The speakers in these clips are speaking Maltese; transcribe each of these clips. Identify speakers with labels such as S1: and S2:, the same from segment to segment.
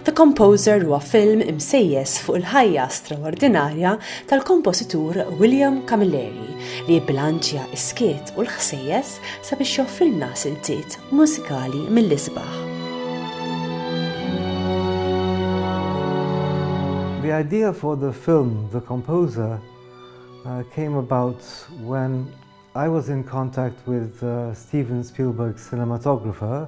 S1: The Composer huwa film imsejjes fuq il-ħajja straordinarja tal-kompożitur William Camilleri li jibbilanċja s-skiet u l-ħsejjes sabiex joffrilna siltiet mużikali mill-isbaħ.
S2: The idea for the film The Composer uh, came about when I was in contact with uh, Steven Spielberg's cinematographer,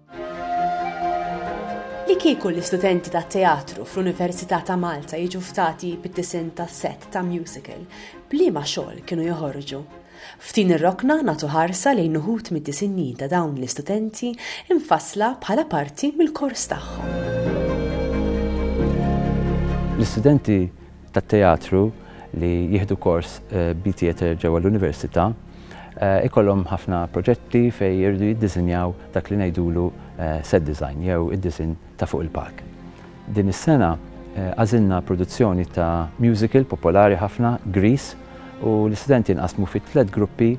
S1: Li kieku l-istudenti tat-teatru fl-Università ta' Malta jiġu ftati bid-disinn ta' sett ta' musical, b'liema xogħol kienu joħorġu? F'din ir-rokna nagħtu ħarsa lejn uħud mid-disinji ta' dawn l-istudenti mfassla bħala parti mill-kors tagħhom.
S3: L-istudenti tat-teatru li jieħdu kors b'theatre ġewwa l-Università jkollhom ħafna proġetti fejn jridu jiddiżinjaw dak li ngħidulu set design jew id-disinn ta' fuq il-palk. Din is-sena għażilna produzzjoni ta' musical popolari ħafna, Grease, u l-istudenti nqasmu fi tliet gruppi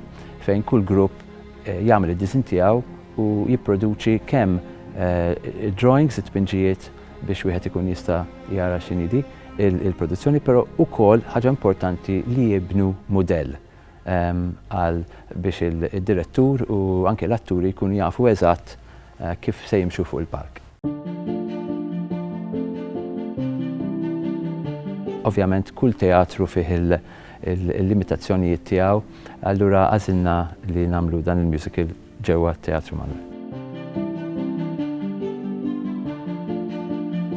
S3: fejn kull grupp jagħmel id-disinn tiegħu u jipproduċi kemm id-drawings, it-tpinġijiet, biex wieħed ikun jista' jara x'inhi di l-produzzjoni, però wkoll ħaġa importanti li jibnu mudell għal biex id-direttur u anke l-atturi jkunu jafu eżatt kif se jimxu fuq il-palk. Ovvjament kull teatru fih il-limitazzjonijiet tiegħu, allura għażilna li nagħmlu dan il-musical. ġewwa t-Teatru Malli.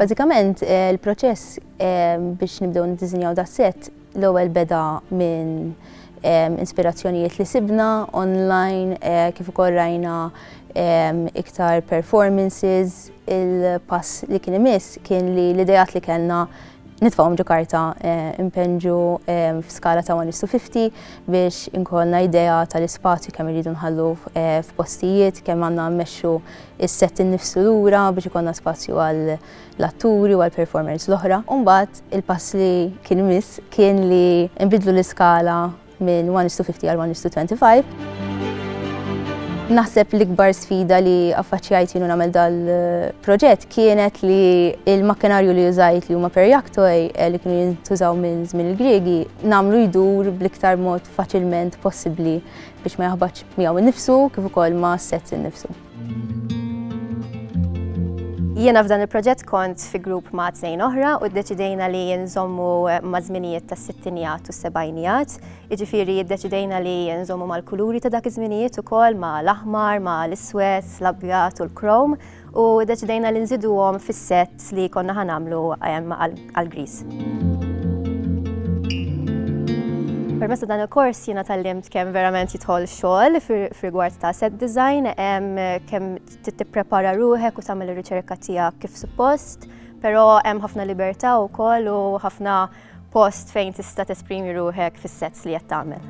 S4: Bażikament, il-proċess biex nibdew niddiżinjaw das-sett l-ewwel beda minn inspirazzjonijiet li sibna online kif ukoll rajna iktar performances, il-pass li kien imiss kien li l-idejat li kellna nitfawhom ġo karta impenġu f'skala ta' 1 to 50 biex inkolna idea tal-ispazju kemm irridu nħallu f'postijiet, kemm għandna mmexxu is-set innifsu lura biex ikollna spazju għal l-atturi u għal performers l-oħra. Umbagħad il-pass li kien miss kien li nbidlu l-iskala minn 1:50 għal 1:25. Naħseb l-ikbar sfida li affaċċjajt jienu nagħmel dal-proġett kienet li l-makkinarju li użajt li huma perjaktoi eh, li kienu jintużaw minn żmien il-Griegi nagħmlu jdur bl-iktar mod faċilment possibbli biex ma jaħbadx miegħu nnifsu kif ukoll ma' sets innifsu.
S5: Jiena f'dan il-proġett kont fi grupp ma' tnejn oħra u ddeċidejna li nżommu ma' żminijiet ta' sittinijat u sebajnijat. Iġifieri ddeċidejna li nżommu mal-kuluri ta' dak iż-żminijiet ukoll ma' l-aħmar, ma' l-iswed, l-abjad u l-krom u ddeċidejna li nżiduhom fis-sett li konna ħanamlu għall-griż. Permezz ta' dan il-kors jiena tallimt kemm verament jidħol xogħol f'rigward ta' set design, kemm tipprepara ruħek u tagħmel ir-riċerka tiegħek kif suppost, però hemm ħafna libertà wkoll u ħafna post fejn tista' tesprimi ruħek fis-sets li qed tagħmel.